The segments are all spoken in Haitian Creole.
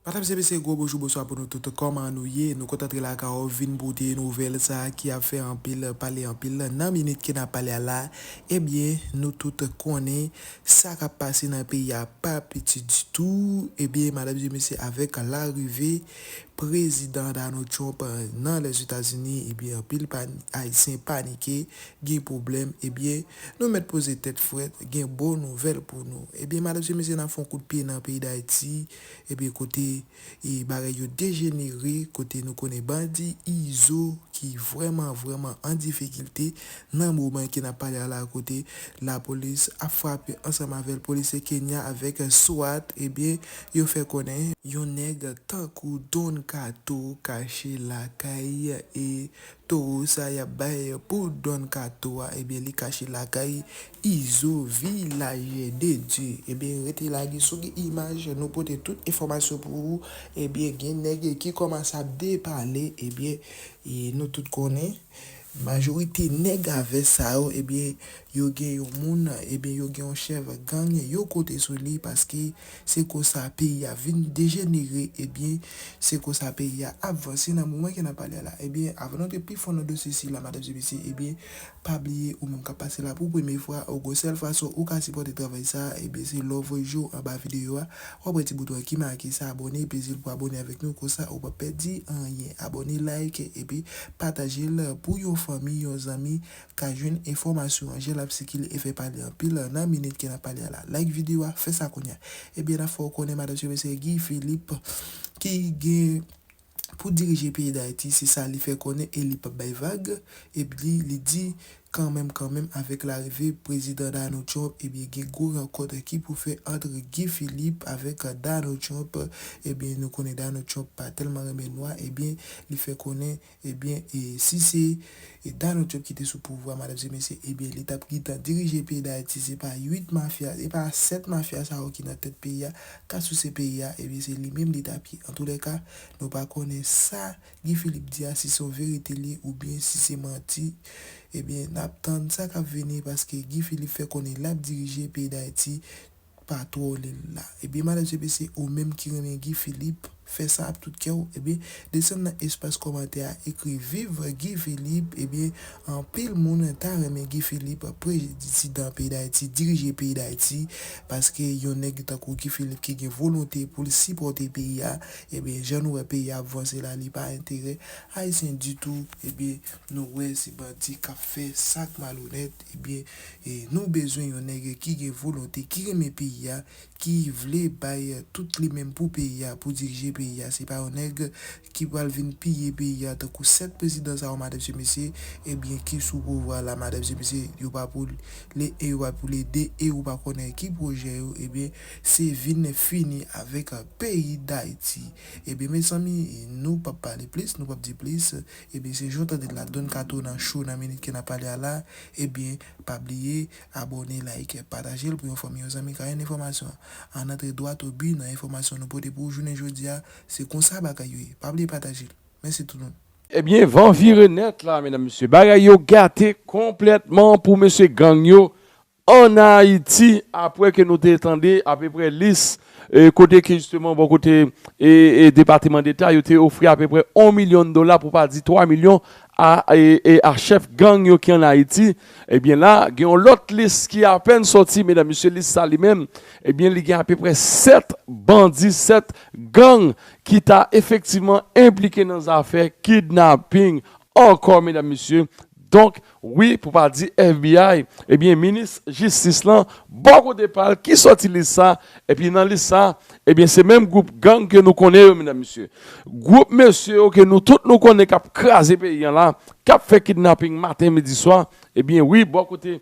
Madam se mesye gwo bonjou bonswa pou nou tout kòman nou ye nou kontan antre lakay ou vin pote nouvèl sa ki ap fè anpil pale anpil lan nan minit ke nap pale a la ebyen nou tout konnen sa kap pase nan peyi a pa piti ditou ebyen madam se mesye avèk larive prezidan Donald Trump nan lèzetazini ebyen anpil ayisyen panike gen pwoblèm ebyen nou mèt poze tèt frèt gen bon nouvèl pou nou ebyen madam se mesye nap fon kout pye nan peyi dayiti. Ebyen kote bagay yo dejenere kote nou konnen bandi izo ki vrèman vrèman an difikilte nan moman ke nap pale a la kote lapolis ap frape ansanm avèl polisye kenya avèk swat ebyen yo fè konnen yon nèg tankou Don Kato kache lakay e towo sa yap bay pou Don Kato a ebyen li kache lakay Izo villager de Dieu ebyen rete la gen sou gen imaj nou pote tout enfòmasyon pou ou ebyen gen nèg ki kòmanse ap depale ebyen nou tout konnen majorite nèg a vès sa yo ebyen yo gen yon moun ebyen yo gen yon chèf gang yo kote sou li paske se konsa peyi a vin dejenere ebyen se konsa peyi a ap vanse nan moman ke nap pale a la ebyen avan nou antre pi fon nan dosye sila madamzye mesye ebyen Pa bliye ou menm kap pase la pou premye fwa ou gon sèl fason ou ka sipòte travay sa a ebyen se lè w voye je w anba videyo a wap wè ti bouton an ki make sa abòne pezil pou abòne avèk nou konsa ou pap pèdi anyen abòne like epi pataje l pou yon fanmi yon zanmi ka jwenn enfòmasyon an jan lap sikile e fè pale anpil nan minit ke nap pale a la like videyo a fè sa kounya ebyen nap fè w konnen madanm se mesye Guy Philippe ki gen pou dirije peyi Dayiti, se sa li fè konnen e li pap bay vag, ebyen li di kanmenm kanmenm avèk larive Prezidan Donald Trump ebyen gen gwo rankont ki pou fè ant Guy Philippe avèk Donald Trump, ebyen nou konnen Donald Trump pa tèlman renmen nwa ebyen li fè konnen ebyen si se. E Dano Job ki te sou pouvwa madan se mesye ebyen li tap gintan dirije peyi dayiti se pa 8 mafya se pa 7 mafya sa yo ki nan tèt peyi a ka souse peyi a ebyen se li menm li tap ye antoulèka nou pa konnen sa Guy Philippe di a si son verite li ye oubyen si se manti ebyen nap tann sa kap vini paske Guy Philippe fè konnen lap dirije peyi dayiti Pa twole l la. Ebyen madan JP se ou menm ki renmen Guy Philippe, fè sa ap tout kè w, ebyen desann nan espas kòmantè a ekri viv Guy Philippe, ebyen anpil moun ta renmen Guy Philippe prezidan peyi Dayiti, dirije peyi Dayiti, paske yon nèg tankou Guy Philippe ki gen volonte pou l sipòte peyi a, ebyen jan nou wè peyi a ap vanse la li pa enterè ayisyen ditou, ebyen nou wè se bandi kap fè sak malonèt. Ebyen nou bezwen yon nèg ki gen volonte, ki renmen peyi a, ki vle bay tout li menm pou peyi a, pou dirije peyi a. Se pa yon nèg ki pral vin piye peyi a tankou 7 prezidan sa yo madan se mesye ebyen ki sou pouvwa la madan se mesye yo pa pou le 1 yo pa pou le 2 e ou pa konnen ki pwojè yo ebyen se vin fini avèk peyi dayiti ebyen mezanmi nou pap pale plis nou pap di plis Ebyen se jan w tande l la Don Kato nan show nan minit ke nap pale a la Ebyen pa bliye abòne like pataje l pou yon fanmi yon zanmi ka jwenn enfòmasyon an Ann antre dwat o bi nan enfòmasyon nou pote pou ou jounen jodi a Se konsa bagay yo ye Pa bliye pataje l Mèsi tout moun. Ebyen van vire nèt la medam mesye bagay yo gate konplètman pou mesye gang yo Ann Ayiti, apwè ke nou te tande apeprè lis kote ke jisteman bò kote Depateman Deta yo te ofri apeprè 1 milyon dola pou pa di 3 milyon a chèf gang yo ki ann Ayiti, ebyen la gen yon lòt lis ki apèn sòti medam mesye lis sa li menm ebyen li gen apeprè 7 bandi 7 gang ki ta efektivman enplike nan zafè kidnaping ankò medam mesye donk Wi pou pa di FBI, ebyen minis jistis lan bò kote pa l ki sòti lis sa, epi nan lis sa, ebyen se menm gwoup gang ke nou konnen yo medam mesye. Gwoup mesye yo ke nou tout nou konnen k ap kraze peyi an la, k ap fè kidnaping maten midi swa, ebyen wi bò kote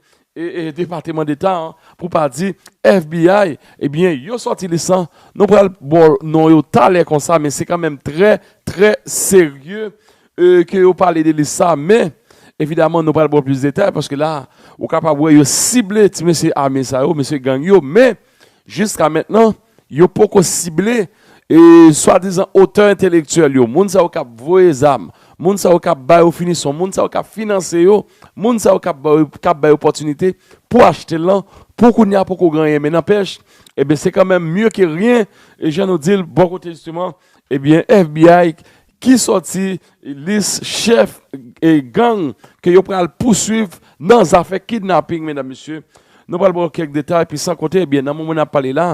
depateman deta an pou pa di FBI, ebyen yo sòti lis lan, nou pral ba w non yo talè konsa men se kanmenm trè trè serye e ke yo pale de lis sa, men, evidaman nou pral ba w plis detay, paske la, ou kapab wè yo sible ti mesye ame sa yo, mesye gang yo, men, jiska mentnan, yo poko sible, e, swadizan otè entelektyèl yo, moun sa yo k ap voye zam, moun sa yo k ap ba yo finisyon, moun sa yo k ap finanse yo, moun sa yo k ap ba yo, k ap ba yo opòtinite pou achte l lan, pou kounye a poko gen anyen, men nanpèch, enben, se kanmenm mye ke ryen, e jan nou di l, bò kote jisteman, ebyen FBI, ki sòti lis chèf gang ke yo pral pouswiv nan zafè kidnaping medam mesye, nou pral ba w kèk detay epi san konte ebyen nan moman nap pale la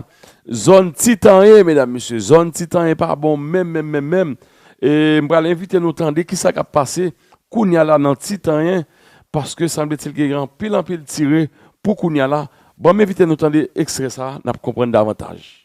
zòn ti tanyen medam mesye zòn ti tanyen pa bon menm menm menm menm e m pral envite nou tande kisa kap pase kounya la nan ti tanyen paske sanbletil gen anpil anpil tire pou kounya la banm envite nou tande ekstrè sa nap konprann davantaj.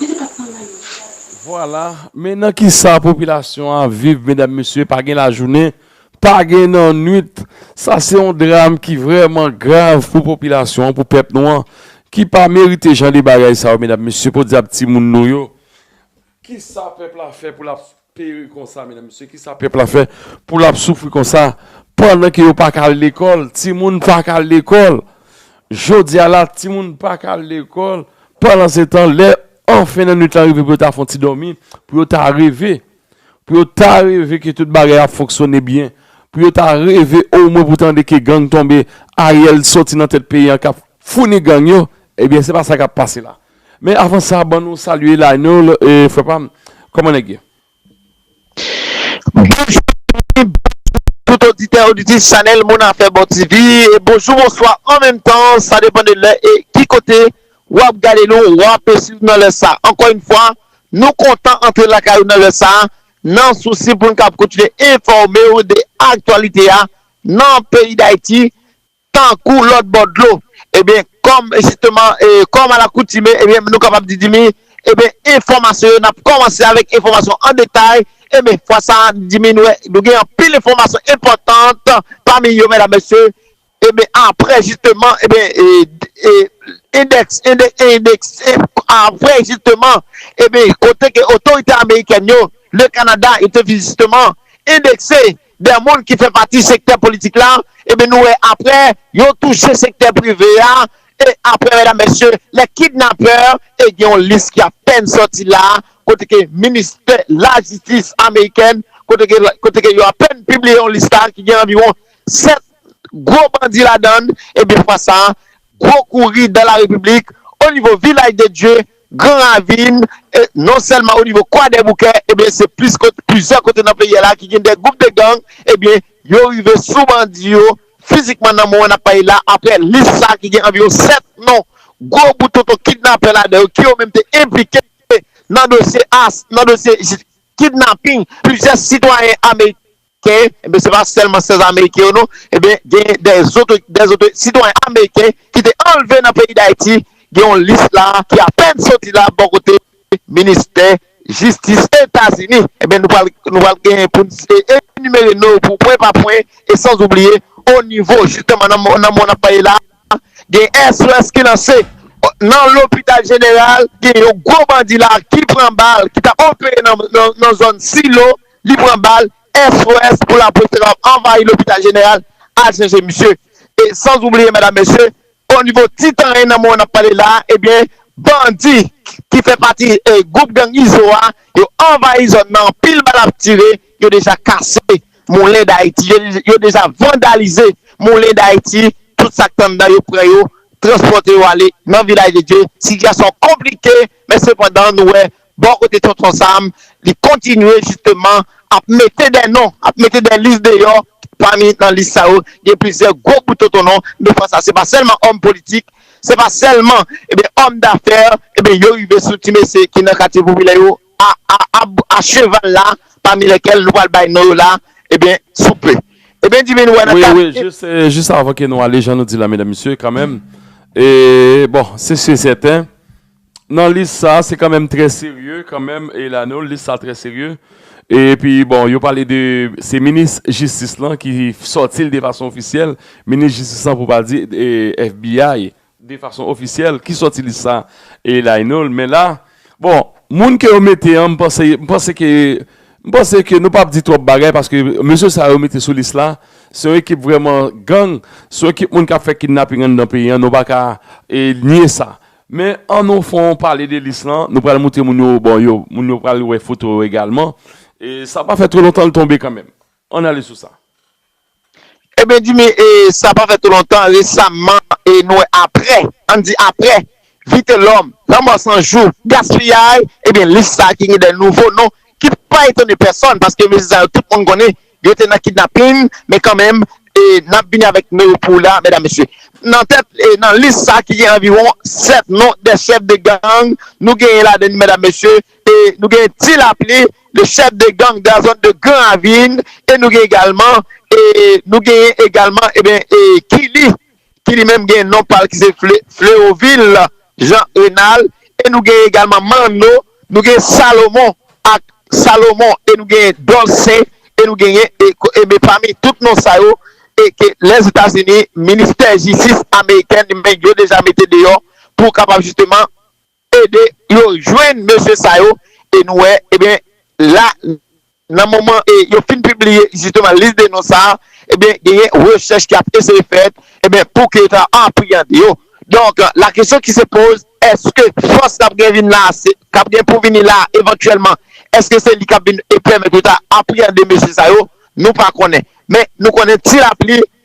Mwen te pat nan lavi a tou. Vwala, men nan kisa popilasyon an ap viv medam mesye, pa gen lajounen, pa gen nannuit, sa se yon dram ki vrèman grav pou popilasyon an, pou pèp nou an, ki pa merite jan de bagay sa yo medam mesye, podyab timoun nou yo, kisa pèp la fè pou l ap soufri. Peri konsa medam mesye kisa pèp la fè pou lap soufri konsa pandan ke yo paka al lekòl timoun paka al lekòl jodia la timoun paka al lekòl pandan se tan lè an fen nan nwit la rive pou yo ta fon ti dòmi pou yo ta reve pou yo ta reve ke tout bagay ap fonksyone byen pou yo ta reve o mwen pou tande ke gang tonbe ariel soti nan tèt peyi an kap founi gang yo ebyen se pa sa kap pase la Men avan sa ban nou salye Lionel e frè pam kòman nèg ye? Bonjou zanmi, bonjou tout oditè oditrice chanèl Moun Afè Bon TV e bonjou bonswa an menm tan sa depan de lè e ki kote wap gade nou wap swiv nou nan lè sa ankò yn fwa nou kontan antre lakay ou nan lè sa nan sousi poun kab kontinye enfòmew de aktyalite a nan peyi dayiti Tankou lòt bò dlo, ebyen kòm jisteman kòm alakoutime ebyen nou kapab di Dimy ebyen enfòmasyon yo nap kòmanse avèk enfòmasyon an detay ebyen fwa sa Dimy nou wè nou gen anpil enfòmasyon enpòtant pami yo medam mesye ebyen aprè jisteman ebyen endèks endekse aprè jisteman ebyen kote ke otorite amerikèn yo le Canada yo te jisteman endekse 2 moun ki fè pati sektè politik la ebyen nou wè aprè yo touche sektè prive a e aprè medam mesye lè kidnapè e gen yon lis ki apèn sòti la kote ke ministè lajistis amerikèn kote ke yo apèn pibliye yon lis la ki gen anviwon 7 gwo bandi ladann ebyen fwa sa gwo kouri dan la repiblik onivo vilaj de dye Gran Ravin, e non sèlman o nivo Kwadèboukè, ebyen se plis kot, plizyè kote nan peyi a la ki gen de gwoup de gang, ebyen yo rive sou bandi yo fizikman nan moman n ap pale la, aprè lis sa ki gen anviwon 7 non gwo bout tonton kidnapè ladan yo ki yo menm te enplike nan dosye as, nan dosye kidnaping plizyè sitwayen ameriken. Ke enben se pa sèlman 16 ameriken yo non enben gen dè zotre dè zotre sitwayen ameriken ki te anlve nan peyi dayiti gen yon lis la ki apèn soti la bò kote ministè jistis etazini enben nou pral nou pral gen pou n e enimere no pou pwen pa pwen e san oubliye onivo jisteman nan nan mò nap pale la gen SOS ki lanse nan lopital jeneral gen yon gwo bandi la ki pran bal ki tap opere nan nan zòn silo li pran bal, SOS pou lapolis te kapab anvayi lopital jeneral al chèche misye. E sans oubliye medam mesye, o nivo ti tanyen nan moman nap pale la a ebyen bandi ki fè pati gwoup gang izo a yo anvayi zòn nan anpil bal ap tire, yo deja kase moulen dayiti, yo deja vandalize moulen dayiti, tout sak t anndan yo pran yo transpòte yo ale nan vilaj de Dye, sitiyasyon konplike men sepandan nou wè Bò kote Tonton Sam, li kontinye jisteman ap mete dè non, ap mete dè lis deyò, pami nan lis sa yo gen plizyè gwo bout tontonnon, de fwa sa se pa sèlman òm politik, se pa sèlman ebyen òm dafè, ebyen yo rive sou ti mesye ki nan katye popilè yo a a a cheval la, pami lèkèl nou pral bay non yo la ebyen sou pe. Ebyen Divin wè nan kal. Wi wi jis avan ke nou ale jan nou di la medam mesye kanmenm, bon se si e sèten. Nan lis sa se kanmenm trè serye kanmenm Elaneau lis sa trè serye epi bon yo pale de se minis jistis lan ki sòtil de fason ofisyèl minis jistis lan pou pa di FBI de fason ofisyèl ki sòti lis sa Elaneau men la bon moun ke yo mete an m panse m panse ke m panse ke nou pap di twòp bagay paske mesye sa yo mete sou lis la se yon ekip vrèman gang se yon ekip moun kap fè kidnaping anndan peyi an nou pa ka nye sa Men an nou fè yon pale de lis lan, nou pral moutre moun yo, bon yo, moun yo pral wè foto yo egalman, e sa pa fè two lontan l tonbe kanmenm. Ann ale sou sa. Eben Djimi, e sa pa fè two lontan, resamman, e nou wè apre, ann di apre, Vitelòm, Lanmò San Jou, Gaspiyay, eben lis sa ki gen de nouvo non ki pa etone pèsòn paske mesye sa yo tout moun konnen Yo te nan kidnaping men kanmenm nap vini avèk nimewo pou ou la medam mesye. Nan tèt nan lis sa ki gen anviwon 7 non de chèf de gang nou genyen ladann medam mesye nou genyen Ti Lapli le chèf de gang de la zòn de gran ravin e nou genyen egalman e nou genyen egalman e Kili ki li menm gen non pa l ki se Fleovil Jean Renal e nou gen egalman Manno, nou gen Salomon ak Salomon e nou gen Dolcin e nou genyen Aimé pami tout non sa yo e ke Lèzetazini, ministè jistis amerikèn li menm yo deja mete deyò pou kapab jisteman. ede yo jwenn mesye sa yo e nou wè ebyen la nan moman e yo fin pibliye jisteman lis de non sa a ebyen genyen rechèch ki ap eseye fèt ebyen pou ke yo ta apriyande yo donk la kesyon ki se poz èske fòs k ap gen vin la k ap gen pou vini la evantyèlman èske se li k ap vin e pèmèt yo ta apriyande mesye sa yo nou pa konnen men nou konnen ti lapli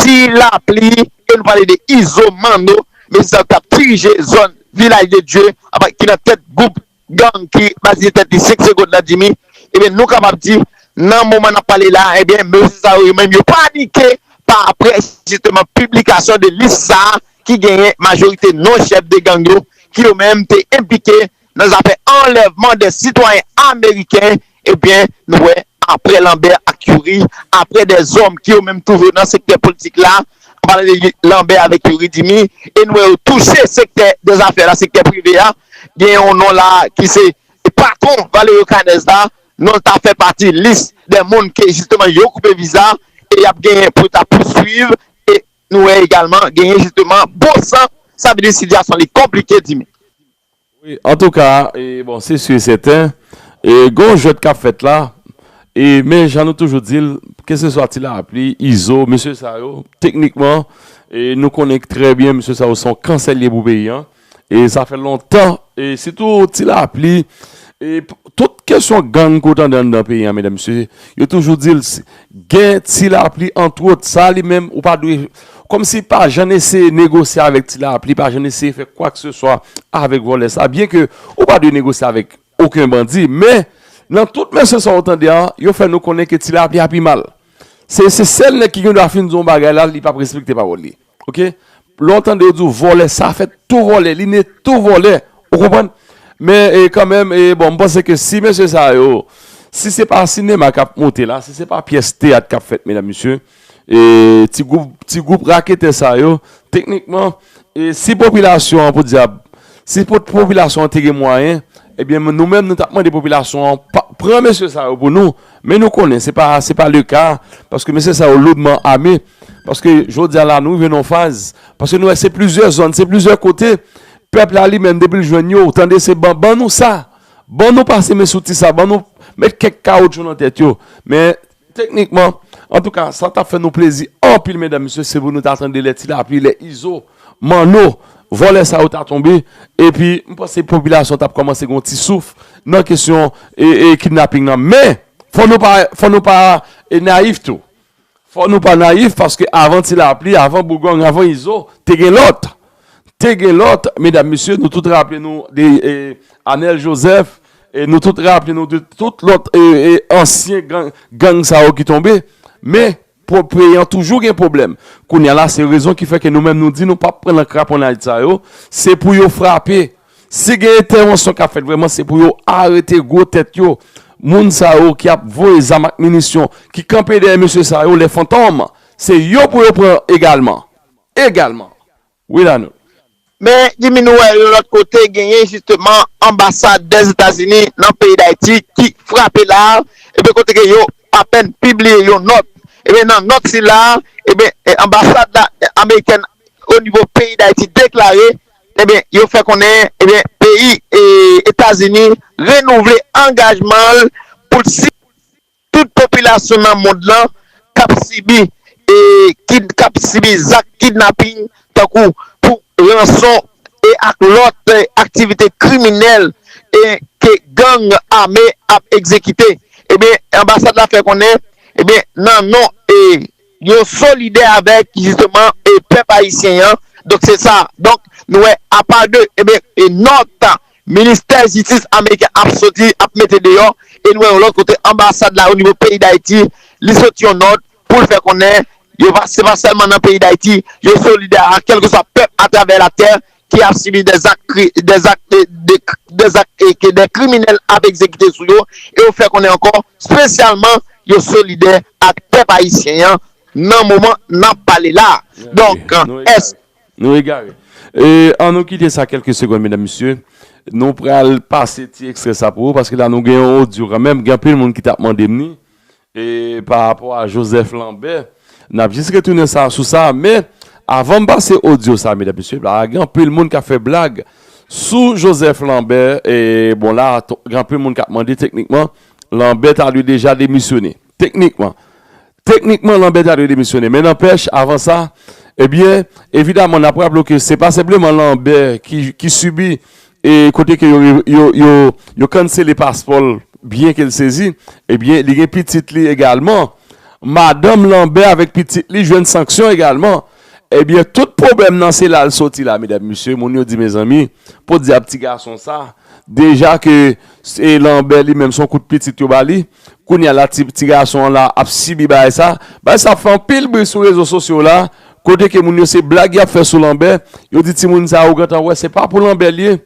Ti lapli e nou pale de Izo Manno, mesye sa yo ki t ap dirije zòn Vilaj de Dye ki nan tèt gwoup gang ki batize tèt li 5 segond nan Dimi, ebyen nou kapab di nan moman n ap pale la a ebyen mesye sa yo yo menm yo panike pa aprè jisteman piblikasyon de lis sa a ki genyen majorite non chèf de gang yo ki yo menm te enplike nan zafè anlèvman 2 sitwayen ameriken ebyen nou wè aprè Lambert ak Youri aprè 2 zòm ki yo menm toujou nan sektè politik la an palan de Lambert avèk Youri Dimy e nou wè yo touche sektè de zafè la sektè prive a gen yon non la ki se patwon Valerio Canez la non l ta fè pati lis de moun ke jisteman yo koupe viza e y ap genyen pou yo ta pouswiv e nou wè egalman genyen jisteman bon san sa vle di sitiyasyon li konplike Dimitri. Wi antouka e bon se su e sèten e gen yon jwèt kap fèt la e men jan nou toujou dil ke se swa ti lapli, izo, mesye sa yo teknikman e nou konnen trè byen mesye sa yo son kansè liye pou peyi an e sa fè lontan e sitou ti lapli e tout kesyon gang ke w tande anndan peyi an medam mesye yo toujou dil Gen Ti Lapli antwot, sa li menm ou pa dwe Kòm si pa jann eseye negosye avèk Ti Lapli, pa jann eseye fè kwakseswa avèk vòlè sa byen ke ou pa dwe negosye avèk oken bandi men nan tout mèsyon sa ou tande an yo fè nou konnen ke Ti Lapli a pi mal se sèl nèg ki gen dwa fin di yon bagay la li pap respekte pawòl li. ok lè ou tande yo di ou vòlè sa fèt tou vòlè li ne tou vòlè ou konprann men e kanmenm e bon mpanse ke si mesye sa yo si se pa sinema kap moute la si se pa pyès teyat kap fèt medam mesye e ti gwoup ti gwoup raketè sa yo teknikman e si popilasyon an podyab si popilasyon an te gen mwayen ebyen nou menm nou tap mande popilasyon an pran mesye sa yo pou nou. Men nou konnen se pa se pa le ka paske mesye sa yo loudman ame paske jodi a la nou rive nan yon faz paske nou wè se plizyè zòn, se plizyè kote pèp la li menm depi l jwenn yo ou tande se ban ban nou sa ban nou pase men sou ti sa ban nou met kèk kawotchou nan tèt yo men teknikman antouka sa t ap fè nou plezi anpil medam mesye se pou nou ta tande lè ti lapli lè izo Manno, vòlè sa yo ta tonbe, epi m panse popilasyon t ap kòmanse gen yon ti souf nan kesyon kidnaping nan. Men, fò nou pa, fò nou pa nayif tou. Fò nou pa nayif paske avan ti lapli, avan bougong, avan izo, te gen lòt. Te gen lòt, medam mesye, nou tout raple nou de Anèl Jozèf, nou tout raple nou de tout lòt ansyen gang sa yo ki tonbe. Men, Propre an toujou gen pwoblèm. Kounya la se rezon ki fè ke nou menm nou di nou pap pran nan kraponaj sa yo, se pou yo frape. Si gen entèwansyon kap fèt vrèman se pou yo arete gwo tèt yo. Moun sa yo ki ap voye zam ak minisyon, ki kanpe dèyè mesye sa yo, les fantòm, se yo pou yo pran egalman. Egalman. Wi Lanou. Men Jimmy nou wè yon lòt kote genyen jisteman anbasad dè Etazini nan peyi Dayiti ki frape la a ebyen kote ke yo apèn pibliye yon nòt ebyen nan nòt sila a ebyen anbasad la amerikèn o nivo peyi Dayiti deklare ebyen yo fè konnen ebyen peyi Etazini renouvle angajman l pou l si. Tout popilasyon nan mond lan k ap sibi e kid k ap sibi zak kidnaping tankou pou ranson e ak lòt aktivite kriminèl e ke gang ame ap egzekite ebyen anbasad la fè konnen ebyen nan non e Yo solidè avèk jisteman pèp ayisyen an, donk se sa, donk nou wè apa de eben nòt ministè jistis ameriken ap soti ap mete deyò e nou wè yon lòt kote anbasad la o nivo peyi dayiti li soti yon nòt pou l fè konnen yo pa se pa sèlman nan peyi dayiti yo solidè a kèlkeswa pèp atravè latè ki ap sibi de zak ke de kriminèl ap egzekite sou yo e yo fè konnen ankò spesyalman yo solidè ak pèp ayisyen an nan moman n ap pale la a. Donk, èske. Nou egare. An nou kite sa kèlke segonn medam mesye. Nou pral pase ti ekstrè sa pou ou paske la nou gen yon odyo kanmenm, gen anpil moun ki t ap mande m ni E pa rapò a Joseph Lambert, n ap jis retounen sa sou sa, men avan m pase odyo sa medam mesye, la gen anpil moun k ap fè blag sou Joseph Lambert, e bon la gen anpil moun k ap mande teknikman Lambert ta dwe deja demisyone, teknikman teknikman Lambert ta dwe demisyone, men nanpèch avan sa, ebyen evidaman n ap raple w ke se pa senpleman Lambert ki sibi e kote ke yo kansele paspò l byen ke l sezi, ebyen li gen pitit li egalman, madanm Lanbè avèk pitit li jwenn sanksyon egalman, ebyen tout pwoblèm nan se la l soti la medam mesye, moun yo di mezanmi podyab ti gason sa deja ke se Lanbè li menm son kout pitit yo ba li, Kounya la ti gason an la ap sibi bagay sa. Bagay sa ap fè anpil bri sou rezo sosyo la, kote ke moun yo se blag y ap fè sou Lanbè, yo di timoun sa ou gentan wè se pa pou Lanbè l ye,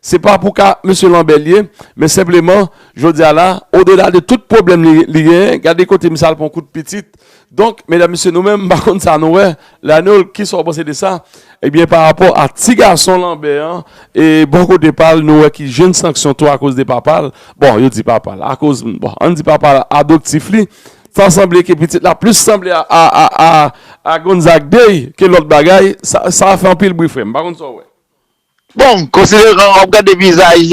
se pa pou ka mesye Lanbè l ye, men senpleman jodi a la odela de tout pwoblèm li genyen, gade kote misye al pran kout pitit, Donk, medam mesye nou menm m pa konn sa nou wè la non kisa w panse de sa ebyen pa rapò a ti gason lanbè an e bò kote pa l nou wè ki jèn sanksyon tou akoz de papa l bon yo di papa l akoz bon ann di papa l adoptif li ta sanble ke pitit la plis sanble a Gonzague Day ke lòt bagay sa fè anpil bri frè m pa konn sa w wè. Bon, konsideran wap gade vizaj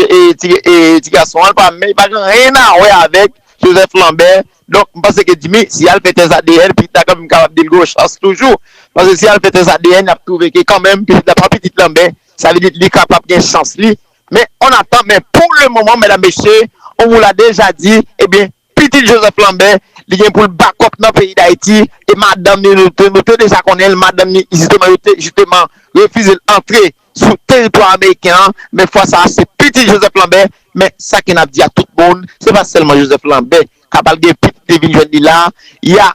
ti gason an, li pa menm, li pa gen anyen a wè avèk Joseph Lambert, donk m panse ke Jimmy, si yal fè tès adn, pitit la kanmenm kapab di l gen yon chans toujou, paske si yal fè tès adn, yap twouve ke kanmenm pitit la pa pitit Lambert, sa vle di li kapab gen chans li, men on atan, men pou le moman medam mesye, on vous l'a deja di, ebyen. Pitit Joseph Lambert, li gen pou l bakòp nan peyi Dayiti e madanm ni, nou te deja konnen l, madanm ni jisteman yo te jisteman refize l antre sou teritwa ameriken an, men fwa sa a se pitit Joseph Lambert, men sa ke n ap di a tout moun, se pa sèlman Joseph Lambert k ap al gen pitit li vin jwenn li la a, y a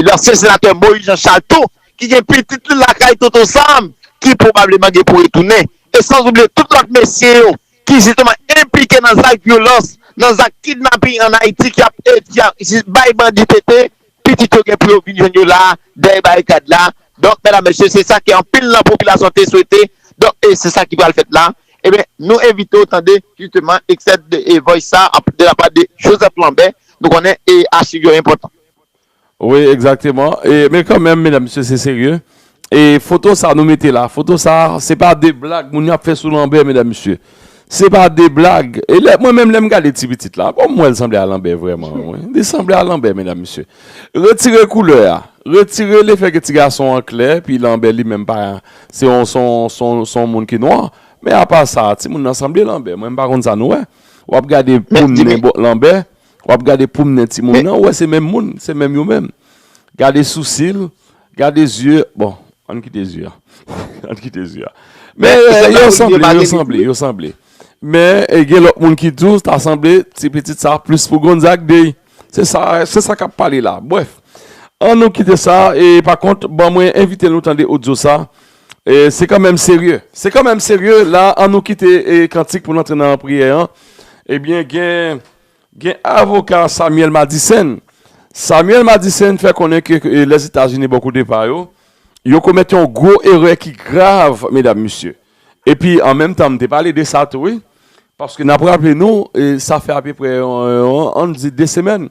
lansyen senatè Moïse Jean Charles tou ki gen pitit li lakay Tonton Sam ki pwobableman gen pou retounen e sanzoubliye tout lòt mesye yo. ki jisteman enplike nan zak vyolans, nan zak kidnaping an Ayiti ki ap bay bandi tete, pitit yo gen pou yo vin jwenn yo la a, dèyè barikad la. Donk, mèdam, mesye, se sa ke anpil nan popilasyon te swete. Donk, e se sa ki pral fèt la. Ebyen, nou envite w tande jisteman ekstrè de voice sa a de la pa de Joseph Lambert. Nou konnen e achiv yo enpòtan. Wi egzakteman e men kanmenm medam mesye se serye e foto sa nou mete la foto sa se pa de blag moun yo ap fè sou lanbè medam mesye se pa de blag e lè mwen menm lèm gade ti pitit la bon mwen sanble a lanbè vrèman wi li sanble a lanbè medam mesye retire koulè a retire le fè ke ti gason an klè epi lanbè li menm pa se yon son son son moun ki nwa men apa sa ti moun nan sanble lanbè mwen pa konn sa nou wè wap gade poun li lanbè. Wap gade poum nen ti moun nan ou wè se menm moun se menm yo menm gade sousil gade zye bon ann kite zye ann kite zye men yo sanble yo sanble yo sanble men gen lòt moun ki tou ta sanble ti pitit sa plis pou Gonzague dey se sa se sa kap pale la brèf ann nou kite sa e pa kont ban mwen envite nou tande odyo sa. Se kanmenm serye, se kanmenm serye la an nou kite kantik pou n antre nan priyè an ebyen gen avoka Samuel Madisèn Samuel Madisèn fè konnen ke lèzetazini bò kote pa yo yo komèt yon gwo erè ki grav medam mesye epi an menm tan m te pale de sa tou wi paske n ap raple nou sa fè apeprè an n di 2 semèn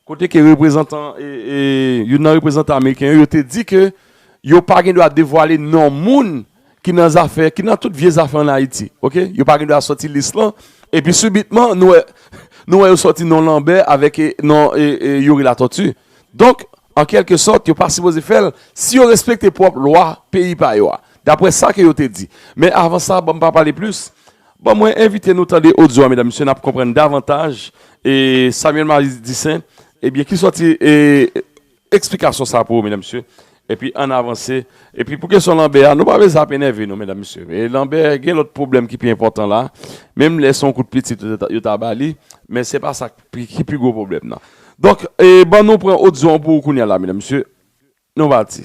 kote ke reprezantan youn nan reprezantan ameriken yo, yo te di ke yo pa gen dwa devwale non moun ki nan zafè, ki nan tout vye zafè an Ayiti, ok, yo pa gen dwa sòti lis lan, epi sibitman nou wè, nou wè yo sòti non Lanbè avèk non Youri Latòti, donk an kèlke sòt yo pa sipoze fè l, si yo respekte pwòp lwa peyi pa yo a, daprè sa ke yo te di, men avan sa banm pa pale plis. Bon mwen envite nou tande odyo a medam mesye nap konprann davantaj e Samuel Marie Dissaint ebyen ki sòti e eksplikasyon sa pou ou medam mesye epi ann avanse epi pou kesyon lanbè a nou pa vle sa ap enève nou medam mesye e lanbè gen lòt pwoblèm ki pi enpòtan la menm lè se yon kout pitit yo ta ba li men se pa sa ki pi gwo pwoblèm nan donk e ban nou pran odyo an pou ou kounya la medam mesye nou pati.